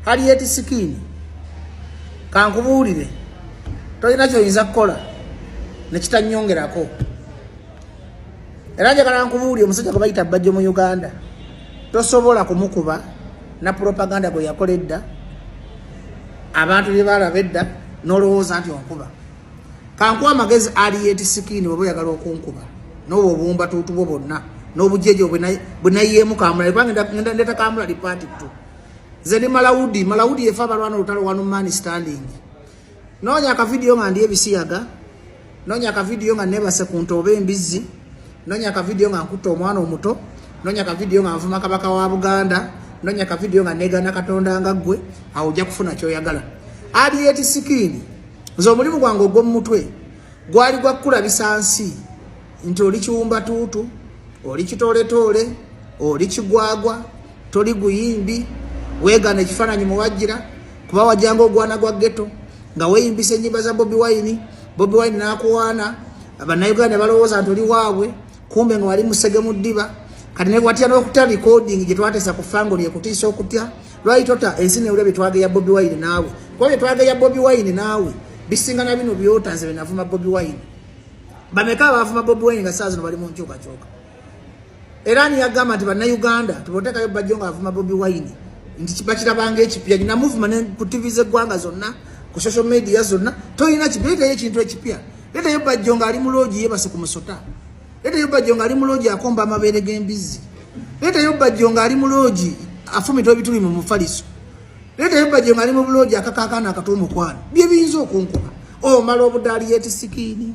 Harriet Skin kankubuulire tolina kyoyinza kukola nekitanyongerako era njagala nkubuulire omusajja gwe bayita bajjo mu Uganda tosobola kumukuba na propaganda gwe yakola edda abantu bye balaba edda n'olowooza nti onkuba kankuwa amagezi Harriet Skin bweba oyagala okunkuba n'obwo obumba tuutubo bonna n'obujeje bwe nayeemu kamulali kubanga ndeta kamulali paati ttu Nze ni Malaudi, Malaudi yefa balwana lutalo wanu man standing. Nonya ka video nga ndiye bisiyaga. Nonya ka video nga neba se kuntobe mbizi. Nonya ka video nga nkuto omwana omuto. Nonya ka video nga nvuma kabaka wa Buganda. Nonya ka video nga nega na katonda nga gwe. Hauja kufuna choya gala. Adi yeti sikini. Nze omulimu gwange ogw'omu mutwe gwali gwa kukulabisa nsi nti oli kiwumbatuutu oli kitoletoole oli kigwagwa toli guyimbi wegana ekifaananyi muwajira kuba wajanga ogwana gwa geto nga weyimbisa enyimba za bobi wine bobi wine nakuwaana bannayuganda balowooza nti oli waabwe kumbe nga wali musege mu ddiba kati ne watya n'okutya recording gye twateesa ku fango lye kutiisa okutya lwali tota ensi newulya bye twageya bobi wine naawe kuba bye twageya bobi wine naawe bisinga na bino byota nze bye navuma bobi wine bameka abaavuma bobi wine nga saa zino bali mu nkyukakyuka era niyagamba nti bannayuganda tibotekayo bajjo nga avuma bobi wine nti bakirabanga ekipya nina muvuma ne ku tv z'eggwanga zonna ku social media zonna tolina kipya leetayo ekintu ekipya leetayo bajjo nga ali mu loogi yebase ku musota leetayo bajjo nga ali mu loogi akomba amabeere g'embizzi leetayo bajjo nga ali mu loogi afumita ebituli mu mufaliso leetayo bajjo nga ali mu buloogi akakaakaana akata omukwano bye biyinza okunkuba omala obudaali yetisikiini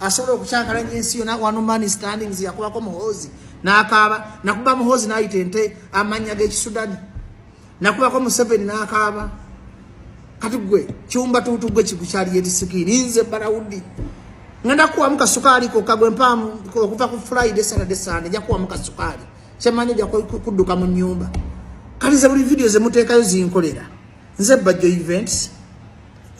asobola okukyankalanya ensi yona one man standings yakubako muhoozi nakaaba nakuba muhoozi nayita ente amanya gekisudani nakubako museveni nakaaba kati gwe kyumba tuutu gwe kikukyali yetisikini nze barawudi ngenda kuwamu kasukaali koka gwe mpaamu okuva ku friday saturday sunday nja kuwamu kasukaali kyemanyi oja kudduka mu nyumba kati ze buli vidiyo zemuteekayo zinkolera nze bajjo events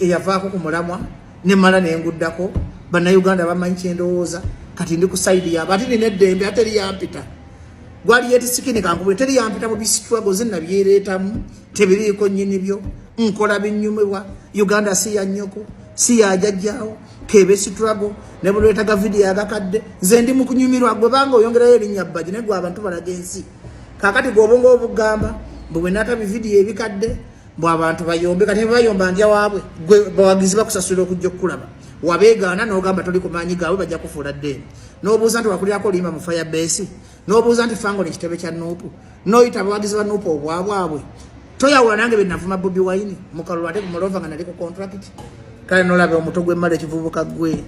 eyavaako ku mulamwa nemala nenguddako bannayuganda bamanyi kyendowooza kati ndi ku saidi yaabo ate nina eddembe ate eri yampita gwali yetisikini kankubule teri yampita mu bisitrago zinna byereetamu tebiriiko nyini byo nkola binyumibwa uganda si yanyoko si yajajjaawo kebe sitrago ne bulwetaga vidiyo agakadde nze ndi mu kunyumirwa gwe banga oyongerayo erinnya bbaji naye gwe abantu balaga ensi kakati gwobonga obugamba mbu bwenata bividiyo ebikadde mbu abantu bayombe kati bayomba ndya waabwe gwe bawagizi bakusasula okujja okukulaba wabeegaana nogamba toli ku maanyi gaabwe bajja kufuula ddeeni nobuuza nti wakulirako oluyimba mu fire base nobuuza nti fango nekitebe kya nuupu noyita abawagizi ba nuupu obwabwabwe toyawula nange benavuma bobi wine mukalulu ate kumulova nga nali ku contract kale nolaba omuto gwemmala ekivubuka gwe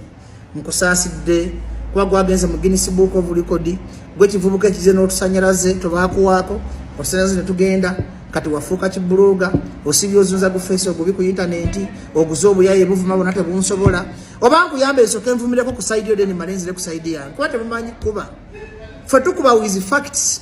nkusaasidde kuba gwagenze mu Guinness Book of Record gwekivubuka ekize n'otusanyalaze tobaakuwaako osanyalaze ne tugenda kati wafuuka kibulooga osibye ozunza gu feesi ogubi ku intanenti oguze obuyaye buvuma bona tebunsobola oba nkuyamba esoka envumireko ku saidi yo deni malenzire ku saidi yange kuba temumanyi kuba fe tukuba wizi facts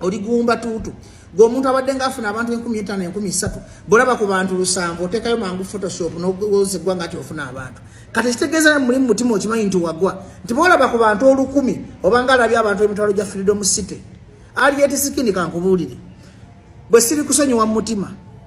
oligumba tuutu gwe omuntu abadde nga afuna abantu enkumi etaano enkumi satu bolaba ku bantu lusanvu otekayo mangu photoshop nowoza eggwanga nti ofuna abantu kati ekitegeeza mulimu mutima okimanyi nti wagwa nti bolaba ku bantu olukumi obanga alabye abantu emitwalo gya freedom city ali etisikindi kankubuulire bwe siri kusonyiwa mu mutima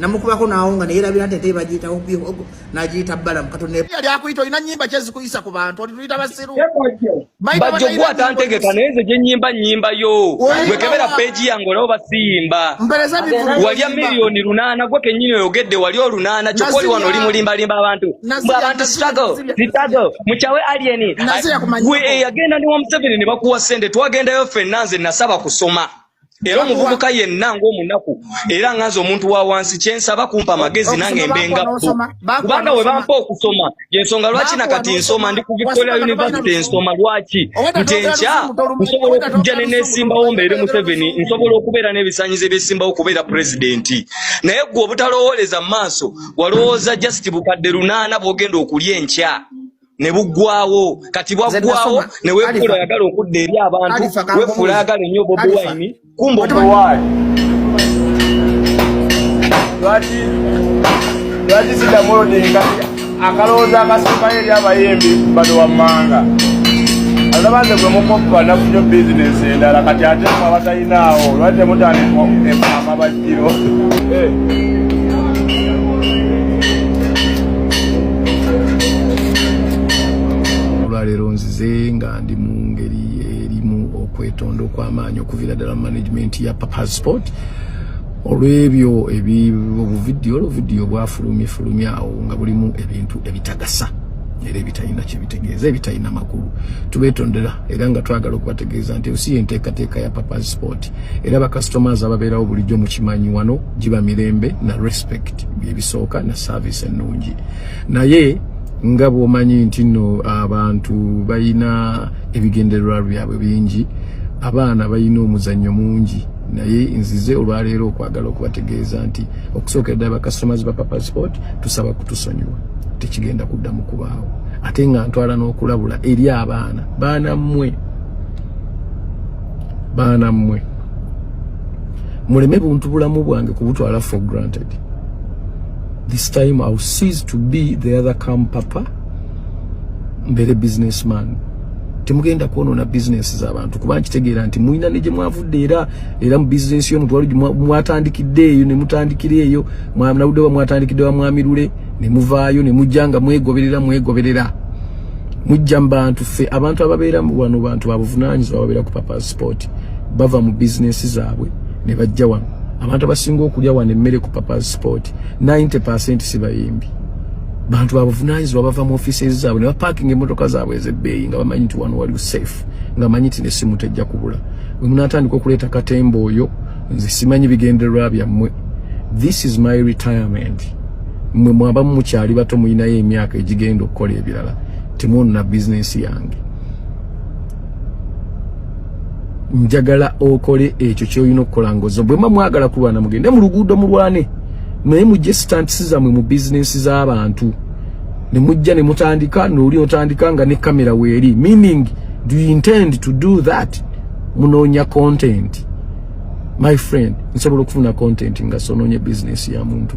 namukubako nawonga neyerabira nti ente bagiyitawo bihogo nagiyita balamu katonayali akuyita olina nyimba kyezikuyisa ku bantu oli tuyita basiru bajjo gwatantegeka naye nze gyenyimba nyimba yo gwekebera peegi yange olaba basiyimba walya miliyoni lunaana gwe kenyini oyogedde wali olunaana kyokka oli wano oli mulimbalimba abantu mbu abantu struggle struggle mukyawe alieni gwe eyagenda ne wamuseveni ne bakuwa sente twagendayo fenna nze nasaba kusoma era omuvubuka yenna ng'omunaku era nga nze omuntu wa wansi kyensaba kumpa amagezi nange mbenga kubanga we bampa okusoma yensonga lwaki na kati nsoma ndi ku victoria university nsoma lwaki nti enkya nsobola okujja ne nesimbawo mbeere museveni nsobola okubeera n'ebisanyizo ebyesimbawo okubeera pulezidenti naye gwe obutalowooleza mu maaso walowooza just bukadde lunaana bwogenda okulya enkya ne buggwawo kati bwaggwawo ne wefuula ayagala okudda eri abantu wefuula ayagala ennyo bobi wine kumba omuwaali lwaki lwaki siddamu olodinga akalowooza akasembayo eri abayimbi bano wammanga alabanze gwe mukoppa nafunyo bizinesi endala kati ate abatalina awo lwaki temutandika emamaba olwaleero nzize nga ndi mu ngeri erimu okwetonda okw'amaanyi okuviira ddala mu management ya papa sport olw'ebyo obuvidiyo oluvidiyo bwafulumye fulumye awo nga bulimu ebintu ebitagasa era ebitalina kyebitegeeza ebitalina makulu tubetondera era nga twagala okubategeeza nti osi yenteekateeka ya papa sport era ba customers ababeerawo bulijjo mu kimanyi wano giba mirembe na respect byebisooka na service ennungi naye nga bwomanyi nti nno abantu balina ebigendererwa byabwe bingi abaana balina omuzannyo mungi naye nzize olwaleero okwagala okubategeeza nti okusookera ddala bacustomers ba papa sport tusaba kutusonyiwa tekigenda kuddamu kubaawo ate nga ntwala n'okulabula eri abaana baana mmwe baana mmwe muleme buntu bulamu bwange kubutwala for granted this time iw cease to be the other cam papa mbeere business man temugenda kwonona business zabantu kuba nkitegeera nti mulina ne gye mwavudde era era mu business yo mutwalo mwatandikidde eyo ne mutandikira eyo mwamnawuddewa mwatandikidde wa mwamirule ne muvaayo ne mujja nga mwegoberera mwegoberera mujja mu bantu ffe abantu ababeera mu wano bantu babuvunaanyizibwa ababeera ku papa sport bava mu bizinensi zaabwe ne bajja wano abantu abasinga okulya wano emmere ku papa sport 90 percent si bayimbi bantu babuvunaanyizibwa bava mu offices zaabwe ne bapaakinga emmotoka zaabwe ez'ebbeeyi nga bamanyi nti wano waliwo safe nga manyi nti nesimu tejja kubula bwe munaatandika okuleeta katemba oyo nze simanyi bigendererwa byammwe this is my retirement mwe mwaba mukyali bato mulinayo emyaka egigenda okukola ebirala temwonona bizinensi yange njagala okole ekyo kyolina okukola ngozo bwema mwagala kulwana mugende mu luguudo mulwane naye mujje sitantisi zammwe mu bizinensi z'abantu ne mujja ne mutandika nooli otandika nga ne kamera weeri meaning do you intend to do that munoonya content my friend nsobola okufuna content nga sononye bizinensi ya muntu